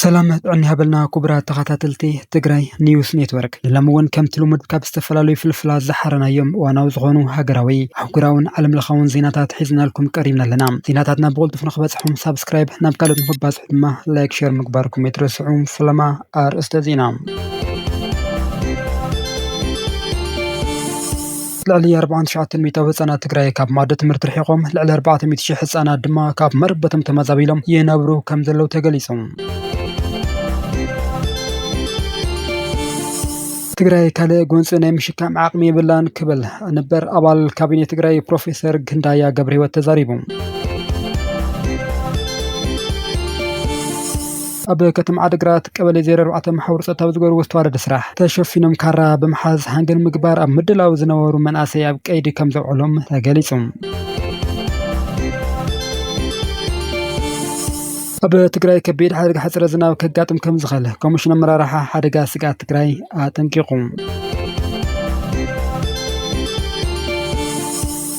ሰላም ጥዕና ይሃበልና ክቡራት ተኸታተልቲ ትግራይ ኒውስ ኔትወርክ ንሎሚ እውን ከምቲ ልሙድ ካብ ዝተፈላለዩ ፍልፍላት ዝሓረናዮም እዋናዊ ዝኾኑ ሃገራዊ ኣህጉራውን ዓለም ለኻውን ዜናታት ሒዝናልኩም ቀሪብና ኣለና ዜናታትና ብቕልጡፍ ንክበፅሑም ሳብስክራይብ ናብ ካልኦት ንክባፅሑ ድማ ላይክ ሸር ምግባርኩም ኣይትረስዑ ፈለማ ኣርእስተ ዜና፣ ልዕሊ ኣርብዓን ትሽዓተን ሚእታዊ ህፃናት ትግራይ ካብ መኣዲ ትምህርቲ ርሒቖም፣ ልዕሊ ኣርባዕተ ሚእቲ ሽሕ ህፃናት ድማ ካብ መረበቶም ተመዛቢሎም ይነብሩ ከምዘለዉ ተገሊፁ። ትግራይ ካልእ ጎንፂ ናይ ምሽካም ዓቕሚ የብላን ክብል ነበር ኣባል ካቢኔ ትግራይ ፕሮፌሰር ክንዳያ ገብረህይወት ተዛሪቡ። ኣብ ከተማ ዓድግራት ቀበሌ ዜሮ ኣርባዕተ መሓውር ፀጥታ ብዝገበርዎ ዝተዋደደ ስራሕ ተሸፊኖም ካራ ብምሓዝ ሃንገ ንምግባር ኣብ ምድላው ዝነበሩ መናእሰይ ኣብ ቀይዲ ከምዘውዐሎም ተገሊፁ። ኣብ ትግራይ ከቢድ ሓደጋ ሕፅረት ዝናብ ከጋጥም ከምዝኽእል ኮሚሽን ኣመራርሓ ሓደጋ ስግኣት ትግራይ ኣጠንቂቑ።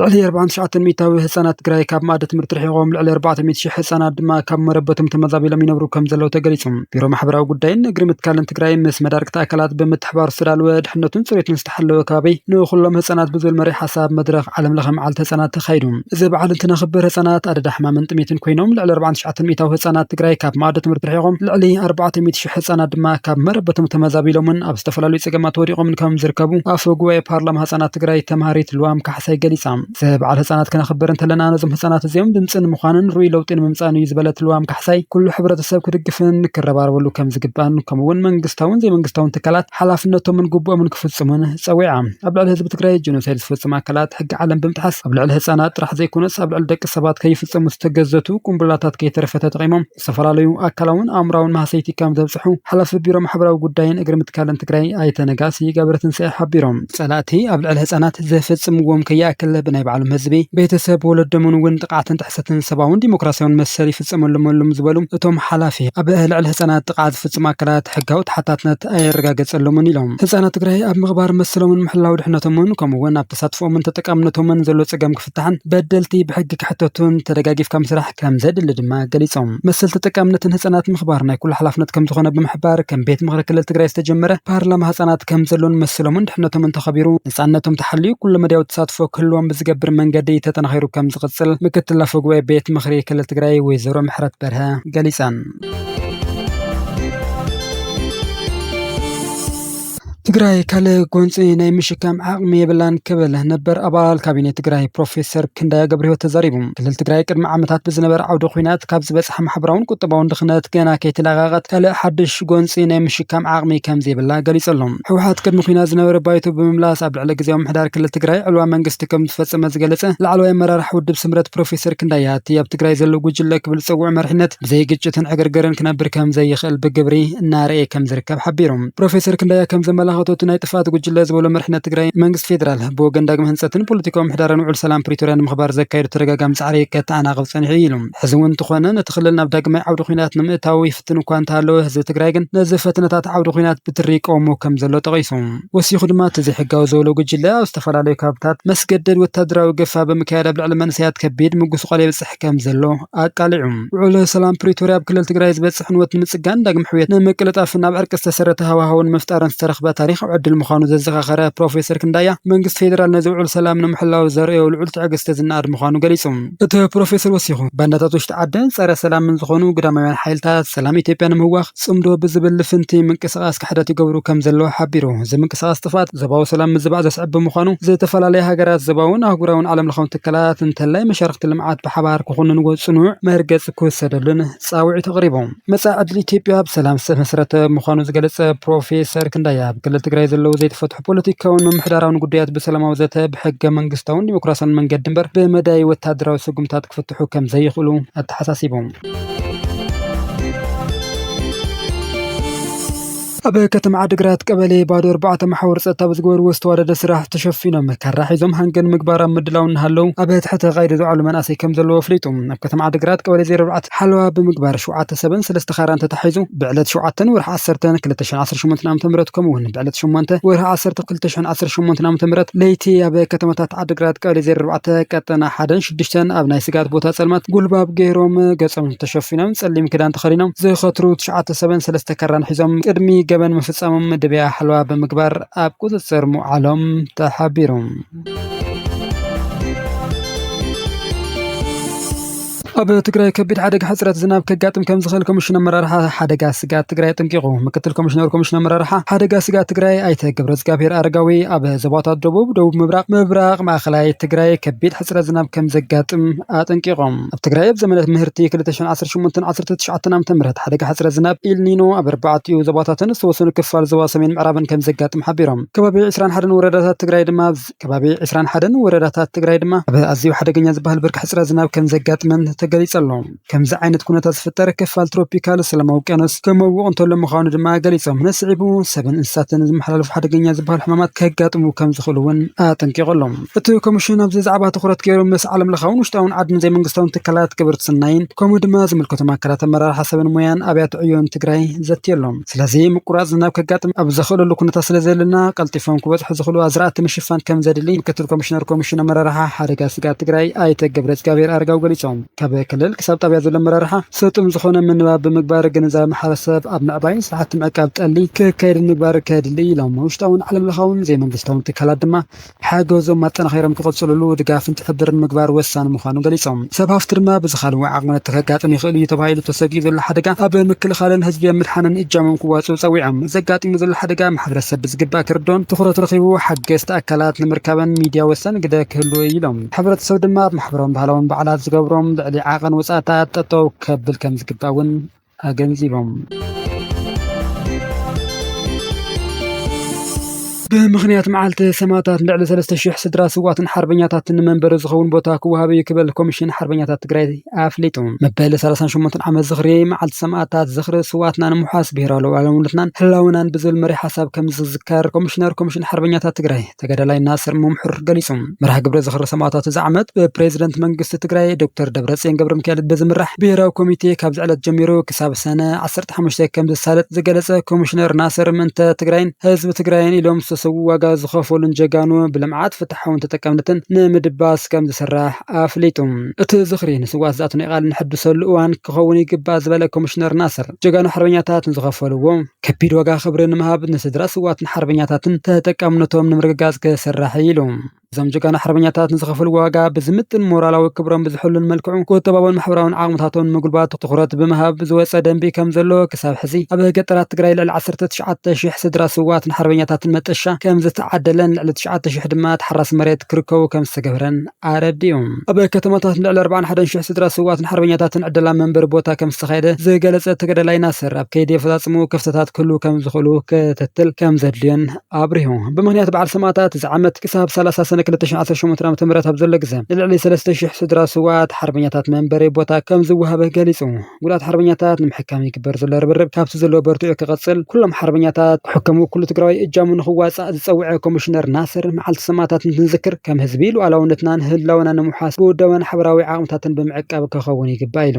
ልዕሊ ኣርብዓን ትሽዓተን ሚእታዊ ህፃናት ትግራይ ካብ መኣዲ ትምህርቲ ርሒቖም ልዕሊ ኣርባዕተ ሚእቲ ሽሕ ህፃናት ድማ ካብ መረበቶም ተመዛቢሎም ይነብሩ ከም ዘለዉ ተገሊፁ። ቢሮ ማሕበራዊ ጉዳይን እግሪ ምትካልን ትግራይ ምስ መዳርግቲ ኣካላት ብምትሕባር ዝተዳለወ ድሕነቱን ፅሬቱን ዝተሓለወ ከባቢ ንኹሎም ህፃናት ብዝብል መሪሕ ሓሳብ መድረኽ ዓለም ለኸ መዓልቲ ህፃናት ተኻይዱ። እዚ በዓል እንትነኽብር ህፃናት ኣደዳ ሕማምን ጥሜትን ኮይኖም ልዕሊ ኣርብዓን ትሽዓተን ሚእታዊ ህፃናት ትግራይ ካብ መኣዲ ትምህርቲ ርሒቖም ልዕሊ ኣርባዕተ ሚእቲ ሽሕ ህፃናት ድማ ካብ መረበቶም ተመዛቢሎምን ኣብ ዝተፈላለዩ ፀገማት ወዲቖምን ከም ዝርከቡ ኣፈ ጉባኤ ፓርላማ ህፃናት ትግራይ ተምሃሪት ልዋም ካሕሳይ ገሊፃ። ዘበዓል ህፃናት ክነኽብር እንተለና ነዞም ህፃናት እዚኦም ድምፂ ንምዃንን ርኡይ ለውጢ ንምምፃእን እዩ ዝበለት ልዋም ካሕሳይ ኩሉ ሕብረተሰብ ክድግፍን ክረባረበሉ ከም ዝግባእን ከምኡ እውን መንግስታውን ዘይመንግስታውን ትካላት ሓላፍነቶምን ግቡኦምን ክፍፅሙን ፀዊዓ። ኣብ ልዕሊ ህዝቢ ትግራይ ጀኖሳይድ ዝፈፅሙ ኣካላት ሕጊ ዓለም ብምጥሓስ ኣብ ልዕሊ ህፃናት ጥራሕ ዘይኮነስ ኣብ ልዕሊ ደቂ ሰባት ከይፍፀሙ ዝተገዘቱ ቁምቡላታት ከይተረፈ ተጠቒሞም ዝተፈላለዩ ኣካላውን ኣእምራውን ማህሰይቲ ከም ዘብፅሑ ሓላፊ ቢሮ ማሕበራዊ ጉዳይን እግሪ ምትካልን ትግራይ ኣይተ ነጋሲ ገብረትንሳኤ ሓቢሮም። ፀላእቲ ኣብ ልዕሊ ህፃናት ዘፈፅምዎም ከይኣክል ብናይ ባዕሎም ህዝቢ፣ ቤተሰብ፣ ወለዶምን እውን ጥቕዓትን ጥሕሰትን ሰብኣውን ዲሞክራሲያውን መሰል ይፍፀመሎም ኣሎም ዝበሉ እቶም ሓላፊ፣ ኣብ ልዕሊ ህፃናት ጥቕዓት ዝፍፅሙ ኣካላት ሕጋዊ ተሓታትነት ኣይረጋገፀሎምን ኢሎም። ህፃናት ትግራይ ኣብ ምኽባር መሰሎምን ምሕላው ድሕነቶምን ከምኡ እውን ኣብ ተሳትፎኦምን ተጠቃምነቶምን ዘሎ ፀገም ፍታሕን በደልቲ ብሕጊ ክሕተቱን ተደጋጊፍካ ምስራሕ ከምዘድሊ ድማ ገሊፆም። መሰል ተጠቃምነትን ህፃናት ምኽባር ናይ ኩሉ ሓላፍነት ከምዝኾነ ብምሕባር ከም ቤት ምኽሪ ክልል ትግራይ ዝተጀመረ ፓርላማ ህፃናት ከምዘሎን መሰሎምን ድሕነቶምን ተኸቢሩ ነፃነቶም ተሓልዩ ኩለ መዳያዊ ተሳትፎ ክህልዎም ብዝገብር መንገዲ ተጠናኺሩ ከምዝቕፅል ምክትል ኣፈ ጉባኤ ቤት ምኽሪ ክልል ትግራይ ወይዘሮ ምሕረት በርሀ ገሊፀን። ትግራይ ካልእ ጎንፂ ናይ ምሽካም ዓቕሚ የብላን ክብል ነበር ኣባል ካቢኔ ትግራይ ፕሮፌሰር ክንዳያ ገብረህይወት ተዛሪቡ። ክልል ትግራይ ቅድሚ ዓመታት ብዝነበረ ዓውደ ኹናት ካብ ዝበፅሓ ማሕበራውን ቁጠባውን ድኽነት ገና ከይተላቐቐት ካልእ ሓዱሽ ጎንፂ ናይ ምሽካም ዓቕሚ ከምዘይብላ ገሊፁ ኣሎ። ህወሓት ቅድሚ ኹናት ዝነበረ ባይቶ ብምምላስ ኣብ ልዕሊ ግዝያዊ ምምሕዳር ክልል ትግራይ ዕልዋ መንግስቲ ከምዝፈፀመ ዝገለፀ ላዕለዋይ ኣመራርሓ ውድብ ስምረት ፕሮፌሰር ክንዳያ እቲ ኣብ ትግራይ ዘሎ ጉጅለ ክብል ዝፀውዖ መሪሕነት ብዘይ ግጭትን ዕግርግርን ክነብር ከም ዘይኽእል ብግብሪ እናርኣየ ከም ዝርከብ ሓቢሩ። ፕሮፌሰር ክንደያ ከም ዘመላኸቶ እቲ ናይ ጥፍኣት ጉጅለ ዝበሎ መሪሕነት ትግራይ መንግስቲ ፌደራል ብወገን ዳግመ ህንፀትን ፖለቲካዊ ምሕዳርን ውዕል ሰላም ፕሪቶርያ ንምኽባር ዘካየዶ ተደጋጋሚ ፃዕሪ ከተኣናቕፍ ፀኒሑ እዩ ኢሉ። ሕዚ እውን እንተኾነ ነቲ ክልል ናብ ዳግማይ ዓውዲ ኹናት ንምእታው ይፍትን እኳ እንተሃለወ ህዝቢ ትግራይ ግን ነዚ ፈተነታት ዓውዲ ኹናት ብትሪ ይቃወሞ ከም ዘሎ ጠቒሱ። ወሲኹ ድማ እቲ ዘይሕጋዊ ዝበሎ ጉጅለ ኣብ ዝተፈላለዩ ከባብታት መስገደድ ወታደራዊ ገፋ ብምክያድ ኣብ ልዕሊ መንእሰያት ከቢድ ምጉስቋል የብፅሕ ይካየድ ከምዘሎ ኣቃሊዑ። ውዕል ሰላም ፕሪቶርያ ኣብ ክልል ትግራይ ዝበፅሕ ዕንወት ንምፅጋን፣ ዳግም ሕውየት ንምቅልጣፍን ኣብ ዕርቂ ዝተሰረተ ሃዋህው ንምፍጣርን ዝተረኽበ ታሪኻዊ ዕድል ምዃኑ ዘዘኻኸረ ፕሮፌሰር ክንዳያ፣ መንግስቲ ፌዴራል ነዚ ውዕል ሰላም ንምሕላው ዘርእዮ ልዑል ትዕግስቲ ዝነኣድ ምዃኑ ገሊፁ። እቲ ፕሮፌሰር ወሲኹ፣ ባንዳታት ውሽጢ ዓድን ፀረ ሰላምን ዝኾኑ ግዳማውያን ሓይልታት፣ ሰላም ኢትዮጵያ ንምህዋኽ ፅምዶ ብዝብል ልፍንቲ ምንቅስቓስ ክሕደት ይገብሩ ከም ዘለዉ ሓቢሩ። እዚ ምንቅስቓስ ጥፍኣት ዞባዊ ሰላም ምዝባዕ ዘስዕብ ብምዃኑ ዝተፈላለያ ሃገራት፣ ዞባውን ኣህጉራውን ዓለምለኻውን ትካላት እንተላይ መሻርኽቲ ልምዓት ብሓባር ክኹንንዎ ፅኑዕ መርገፂ ክውሰደሉን ፃውዒት ኣቕሪቡ። መፃኢ ዕድል ኢትዮጵያ ኣብ ሰላም ዝተመስረተ ምዃኑ ዝገለፀ ፕሮፌሰር ክንዳይ፣ ኣብ ክልል ትግራይ ዘለዉ ዘይተፈትሑ ፖለቲካውን ምምሕዳራውን ጉዳያት ብሰላማዊ ዘተ፣ ብሕገ መንግስታውን ዲሞክራሲያውን መንገዲ እምበር ብመዳይ ወታደራዊ ስጉምትታት ክፍትሑ ከም ዘይኽእሉ ኣተሓሳሲቡ። ኣብ ከተማ ዓዲግራት ቀበሌ ባዶ ኣርባዕተ መሓውር ፀጥታ ብዝገበርዎ ዝተዋደደ ስራሕ ተሸፊኖም ካራ ሒዞም ሃንገን ንምግባር ኣብ ምድላው እናሃለዉ ኣብ ትሕቲ ቀይዲ ዝውዓሉ መናእሰይ ከም ዘለዉ ኣፍሊጡ። ኣብ ከተማ ዓዲግራት ቀበሌ ዜሮ ኣርባዕተ ሓለዋ ብምግባር ሸውዓተ ሰብን ሰለስተ ካራን ተታሒዙ ብዕለት ሸውዓተ ወርሒ ዓሰርተ ክልተ ሽሕን ዓሰርተ ሸሞንተን ዓመተ ምህረት ከምኡ እውን ብዕለት ሸሞንተ ወርሒ ዓሰርተ ክልተ ሽሕን ዓሰርተ ሸሞንተን ዓመተ ምህረት ለይቲ ኣብ ከተማታት ዓዲግራት ቀበሌ ዜሮ ኣርባዕተ ቀጠና ሓደን ሽዱሽተን ኣብ ናይ ስግኣት ቦታ ጸልማት ጉልባብ ገይሮም ገጾም ተሸፊኖም ጸሊም ክዳን ተኸዲኖም ዝኸትሩ ትሽዓተ ሰብን ሰለስተ ካራን ሒዞም ቅድሚ ገበን ምፍጻሞም መደብያ ሓለዋ ብምግባር ኣብ ቁጽጽር ምውዓሎም ተሓቢሩ። ኣብ ትግራይ ከቢድ ሓደጋ ሕጽረት ዝናብ ከጋጥም ከምዝኽእል ኮሚሽን ኣመራርሓ ሓደጋ ስግኣት ትግራይ ኣጠንቂቑ። ምክትል ኮሚሽነር ኮሚሽን ኣመራርሓ ሓደጋ ስግኣት ትግራይ ኣይተ ገብረእዝጋብሄር ኣረጋዊ ኣብ ዞባታት ደቡብ፣ ደቡብ ምብራቕ፣ ምብራቕ ማእኸላይ ትግራይ ከቢድ ሕፅረት ዝናብ ከምዘጋጥም ኣጠንቂቖም። ኣብ ትግራይ ኣብ ዘመነ ምህርቲ ክልተ ሽሕን ዓሰርተ ሸሞንተን ዓሰርተ ትሽዓተን ዓመተ ምህረት ሓደጋ ሕፅረት ዝናብ፣ ኢልኒኖ፣ ኣብ ኣርባዕቲኡ ዞባታትን ዝተወሰኑ ክፋል ዞባ ሰሜን ምዕራብን ከምዘጋጥም ሓቢሮም። ከባቢ ዕስራን ሓደን ወረዳታት ትግራይ ድማ ኣብ ከባቢ ዕስራን ሓደን ወረዳታት ትግራይ ድማ ኣብ ኣዝዩ ሓደገኛ ዝበሃል ብርኪ ሕፅረት ዝናብ ከምዘጋጥመን ተገሊፁ ኣሎ። ከምዚ ዓይነት ኩነታት ዝፍጠር ክፋል ትሮፒካል ሰላማዊ ውቅያኖስ ክመውቕ እንተሎ ምዃኑ ድማ ገሊጾም፣ ነስዒቡ ሰብን እንስሳትን ዝመሓላለፉ ሓደገኛ ዝበሃሉ ሕማማት ከጋጥሙ ከም ዝኽእሉ እውን ኣጠንቂቑ ኣሎ። እቲ ኮሚሽን ኣብዚ ዛዕባ ትኹረት ገይሩ ምስ ዓለምለኻውን ውሽጣውን ዓድን ዘይመንግስታውን ትካላት ግብርት ስናይን ከምኡ ድማ ዝምልከቶም ኣካላት ኣመራርሓ ሰብን ሞያን ኣብያተ ዕዮን ትግራይ ዘትዩ ኣሎ። ስለዚ ምቁራጽ ዝናብ ከጋጥም ኣብ ዘኽእለሉ ኩነታት ስለዘየለና ቀልጢፎም ክበጽሑ ዝኽእሉ ኣዝራእቲ ምሽፋን ከም ዘድሊ ምክትል ኮሚሽነር ኮሚሽን ኣመራርሓ ሓደጋ ስግኣት ትግራይ ኣይተ ገብረእዝጋብሄር ኣረጋዊ ገሊጾም። ካብ ክልል ክሳብ ጣብያ ዘሎ ኣመራርሓ ስልጡን ዝኾነ ምንባብ ብምግባር ግንዛበ ማሕበረሰብ ኣብ ምዕባይን ስራሕቲ ምዕቃብ ጠሊ ክካየድን ምግባር ከድሊ ኢሎም። ውሽጣውን ዓለም ለኻውን ዘይመንግስታውን ትካላት ድማ ሓገዞም ኣጠናኺሮም ክቕፅልሉ ድጋፍን ትሕብርን ምግባር ወሳኒ ምዃኑ ገሊፆም። ሰብ ሃፍቲ ድማ ብዝኻለዎ ዓቕምነት ከጋጥም ይኽእል ኢዩ ተባሂሉ ተሰጊኡ ዘሎ ሓደጋ ኣብ ምክልኻልን ህዝቢ ኣብ ምድሓንን እጃሞም ክዋፅኡ ፀዊዖም። ዘጋጢሙ ዘሎ ሓደጋ ማሕበረሰብ ብዝግባእ ክርድኦን ትኹረት ረኺቡ ሓገዝቲ ኣካላት ንምርካብን ሚድያ ወሳኒ ግደ ክህልዎ ኢዩ ኢሎም። ሕብረተሰብ ድማ ኣብ ማሕበራውን ባህላውን በዓላት ዝገብሮም ልዕሊ ዓቐን ወፃእታት ጠጠው ከብል ከምዝግባእ እውን ኣገንዚቦም። ብምኽንያት መዓልቲ ሰማእታት ልዕሊ ሰለስተ ሽሕ ስድራ ስዋትን ሓርበኛታትን ንመንበሪ ዝኸውን ቦታ ክወሃብ እዩ ክበል ኮሚሽን ሓርበኛታት ትግራይ ኣፍሊጡ። መበል ሰላሳን ሸሞንተን ዓመት ዝኽሪ መዓልቲ ሰማእታት ዝኽሪ ስዋትና ንምውሓስ ብሄራዊ ሉኣላውነትናን ህላውናን ብዝብል መሪሕ ሓሳብ ከምዝዝከር ኮሚሽነር ኮሚሽን ሓርበኛታት ትግራይ ተጋዳላይ ናስር መምሑር ገሊፁ። መርሃ ግብረ ዝኽሪ ሰማእታት እዚ ዓመት ብፕሬዝደንት መንግስቲ ትግራይ ዶክተር ደብረፅዮን ገብረሚካኤል ብዝምራሕ ብሄራዊ ኮሚቴ ካብዚ ዕለት ጀሚሩ ክሳብ ሰነ ዓሰርተ ሓሙሽተ ከምዝሳለጥ ዝገለፀ ኮሚሽነር ናስር ምእንተ ትግራይን ህዝቢ ትግራይን ኢሎም ዝተሰዉ ዋጋ ዝኸፈሉን ጀጋኑ ብልምዓት፣ ፍትሓውን ተጠቃምነትን ንምድባስ ከምዝስራሕ ኣፍሊጡ። እቲ ዝኽሪ ንስውኣት ዝኣተናዮ ቃል ነሐድሰሉ እዋን ክኸውን ይግባእ ዝበለ ኮሚሽነር ናስር፣ ጀጋኑ ሓርበኛታት ንዝኸፈልዎ ከቢድ ዋጋ ክብሪ ንምሃብ ንስድራ ስውኣትን ሓርበኛታትን ተጠቃምነቶም ንምርግጋፅ ክስራሕ እዩ ኢሉ። እዞም ጀጋኑ ሓርበኛታት ንዝኸፈልዎ ዋጋ ብዝምጥን ሞራላዊ ክብሮም ብዝሕሉን መልክዑ ቁጠባውን ማሕበራውን ዓቕምታቶም ንምጉልባት ትኹረት ብምሃብ ዝወፀ ደንቢ ከምዘሎ ክሳብ ሕዚ ኣብ ገጠራት ትግራይ ልዕሊ ዓሰርተ ትሽዓተ ሺሕ ስድራ ስውኣትን ሓርበኛታትን መጠሻ ከምዝተዓደለን ልዕሊ ትሽዓተ ሺሕ ድማ ተሓራሲ መሬት ክርከቡ ከምዝተገብረን ኣረዲኡ። ኣብ ከተማታት ልዕሊ ኣርባዓን ሓደን ሽሕ ስድራ ስውኣትን ሓርበኛታትን ዕደላ መንበሪ ቦታ ከምዝተኻየደ ዝገለፀ እቲ ተጋዳላይ ናስር፣ ኣብ ከይዲ ኣፈፃፅምኡ ክፍተታት ክህልዉ ከምዝኽእሉ ክትትል ከምዘድልዮን ኣብሪሁ። ብምኽንያት በዓል ሰማእታት እዚ ዓመት ክሳብ ሰላሳ ሰነ ክልተ ሽሕን ዓሰርተ ሸሞንተን ዓመተ ምህረት ኣብ ዘሎ ግዘ ንልዕሊ ሰለስተ ሽሕ ስድራ ስውኣት ሓርበኛታት መንበሪ ቦታ ከምዝወሃብ ገሊፁ። ጉዳት ሓርበኛታት ንምሕካም ይግበር ዘሎ ርብርብ ካብቲ ዘለዎ በርቲዑ ክቕፅል ኩሎም ሓርበኛታት ክሕከሙ ኩሉ ትግራዋይ እጃሙ ንኽዋፃእ ዝፀውዐ ኮሚሽነር ናስር መዓልቲ ሰማእታት እንትንዝክር ከም ህዝቢ ሉኣላውነትናን ህላወናን ንምውሓስ ብውዳበን ሓበራዊ ዓቕምታትን ብምዕቃብ ከኸውን ይግባእ ኢሉ።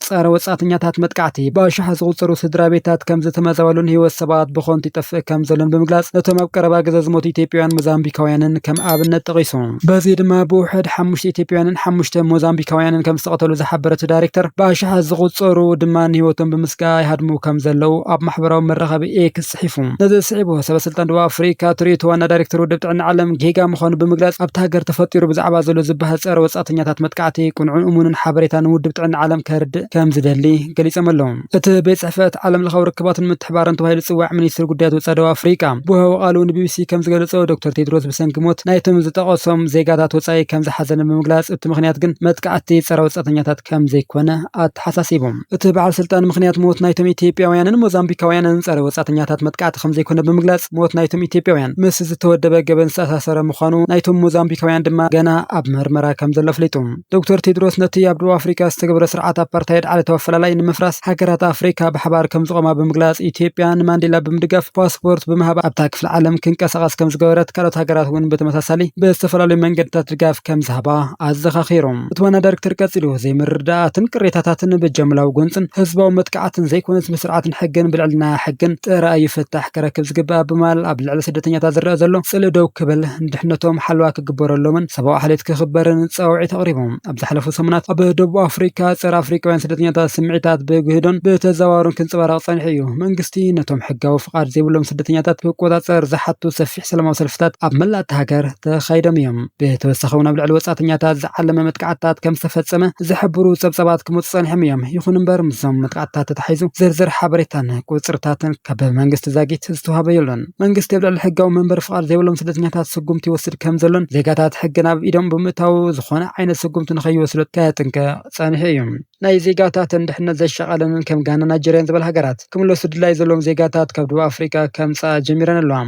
ጸረ ወጻእተኛታት መጥቃዕቲ ብኣሽሓት ዝቑጸሩ ስድራቤታት ከም ዝተመዛበሉን ህይወት ሰባት ብኸንቱ ይጠፍእ ከም ዘሎን ብምግላጽ ነቶም ኣብ ቀረባ ግዘ ዝሞቱ ኢትዮጵያውያን ሞዛምቢካውያንን ከም ኣብነት ጠቒሱ። በዚ ድማ ብውሕድ ሓሙሽተ ኢትዮጵያውያንን ሓሙሽተ ሞዛምቢካውያንን ከም ዝተቐተሉ ዝሓበረ እቲ ዳይሬክተር፣ ብኣሽሓት ዝቑጸሩ ድማ ንህይወቶም ብምስጋእ ይሃድሙ ከም ዘለዉ ኣብ ማሕበራዊ መራኸቢ ኤክስ ጽሒፉ። ነዚ ስዒቡ፣ ሰበስልጣን ደቡብ ኣፍሪቃ ትርእዩ እቲ ዋና ዳይሬክተር ውድብ ጥዕና ዓለም ጌጋ ምዃኑ ብምግላጽ፣ ኣብታ ሃገር ተፈጢሩ ብዛዕባ ዘሎ ዝበሃል ጸረ ወጻእተኛታት መጥቃዕቲ ቅኑዕን እሙንን ሓበሬታ ንውድብ ጥዕና ዓለም ከርድእ ከም ዝደሊ ገሊጾም ኣለዉ። እቲ ቤት ጽሕፈት ዓለምለኻዊ ርክባትን ምትሕብባርን ተባሂሉ ዝጽዋዕ ሚኒስትሪ ጉዳያት ወጻኢ ደቡብ ኣፍሪቃ ብወሃቦ ቃሉ ንቢቢሲ ከም ዝገለጾ፣ ዶክተር ቴድሮስ ብሰንኪ ሞት ናይቶም ዝጠቐሶም ዜጋታት ወጻኢ ከም ዝሓዘነ ብምግላጽ፣ እቲ ምኽንያት ግን መጥቃዕቲ ጸረ ወጻእተኛታት ከም ዘይኮነ ኣተሓሳሲቡ። እቲ በዓል ስልጣን ምኽንያት ሞት ናይቶም ኢትዮጵያውያንን ሞዛምቢካውያንን ጸረ ወጻእተኛታት መጥቃዕቲ ከም ዘይኮነ ብምግላጽ ሞት ናይቶም ኢትዮጵያውያን ምስ ዝተወደበ ገበን ዝተኣሳሰረ ምዃኑ ናይቶም ሞዛምቢካውያን ድማ ገና ኣብ መርመራ ከም ዘሎ ኣፍሊጡ። ዶክተር ቴድሮስ ነቲ ኣብ ደቡብ ኣፍሪካ ዝተገብረ ስርዓት ኣፓርታይድ ዓለታዊ ኣፈላላይ ንምፍራስ ሃገራት ኣፍሪካ ብሓባር ከም ዝቖማ ብምግላጽ ኢትዮጵያ ንማንዴላ ብምድጋፍ ፓስፖርት ብምሃብ ኣብታ ክፍለ ዓለም ክንቀሳቐስ ከም ዝገበረት ካልኦት ሃገራት እውን ብተመሳሳሊ ብዝተፈላለዩ መንገድታት ድጋፍ ከም ዝሃባ ኣዘኻኺሩ። እቲ ዋና ዳይሬክተር ቀጺሉ፣ ዘይምርድዳኣትን ቅሬታታትን ብጃምላዊ ጎንጽን ህዝባዊ መጥቃዕትን ዘይኮነስ ብስርዓትን ሕግን ብልዕልና ሕግን ጥራይ እዩ ፍታሕ ክረክብ ዝግባእ ብማል ኣብ ልዕሊ ስደተኛታት ዝረኣ ዘሎ ጽልኢ ደው ክብል ንድሕነቶም ሓለዋ ክግበረሎምን ሰብኣዊ ዓሌት ክኽበርን ጻውዒት ኣቕሪቦም። ኣብ ዝሓለፉ ሰሙናት ኣብ ደቡብ ኣፍሪቃ ጸረ ኣፍሪቃውያን ስደተኛታት ስምዒታት ብግህዶን ብተዘዋዋሩን ክንጸባረቕ ጸኒሑ እዩ። መንግስቲ ነቶም ሕጋዊ ፍቓድ ዘይብሎም ስደተኛታት ክቆጻጸር ዝሓቱ ሰፊሕ። ሰላማዊ ሰልፍታት ኣብ መላእ እታ ሃገር ተኻይዶም እዮም። ብተወሳኺ እውን ኣብ ልዕሊ ወጻእተኛታት ዝዓለመ መጥቃዕትታት ከም ዝተፈጸመ ዝሕብሩ ጸብጻባት ክመጹ ጸኒሖም እዮም። ይኹን እምበር ምስዞም መጥቓዕትታት ተተሓሒዙ ዝርዝር ሓበሬታን ቁጽርታትን ካብ መንግስቲ ዛጊት ዝተዋህበ የሎን። መንግስቲ ኣብ ልዕሊ ሕጋዊ መንበሪ ፍቓድ ዘይብሎም ስደተኛታት ስጉምቲ ይወስድ ከም ዘሎን ዜጋታት ሕጊ ናብ ኢዶም ብምእታዉ ዝኾነ ዓይነት ስጉምቲ ንኸይወስዱ ከጥንቅቕ ጸኒሑ እዩ። ናይ ዜጋታተን ድሕነት ዘሻቐለንን ከም ጋናን ናይጀርያን ዝበላ ሃገራት፣ ክምለሱ ድላይ ዘለዎም ዜጋታት ካብ ደቡብ ኣፍሪቃ ከምጽኣ ጀሚረን ኣለዋ።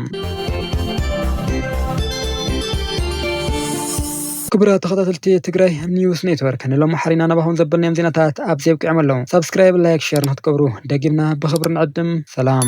ክቡራት ተኸታተልቲ ትግራይ ኒውስ ኔትወርክ ንሎሚ ሓሪና ናባኹም ዘበልናዮም ዜናታት ኣብዚ ኣብቂዖም ኣለዉ። ሳብስክራይብ፣ ላይክ፣ ሸር ንክትገብሩ ደጊምና ብኽብሪ ንዕድም። ሰላም።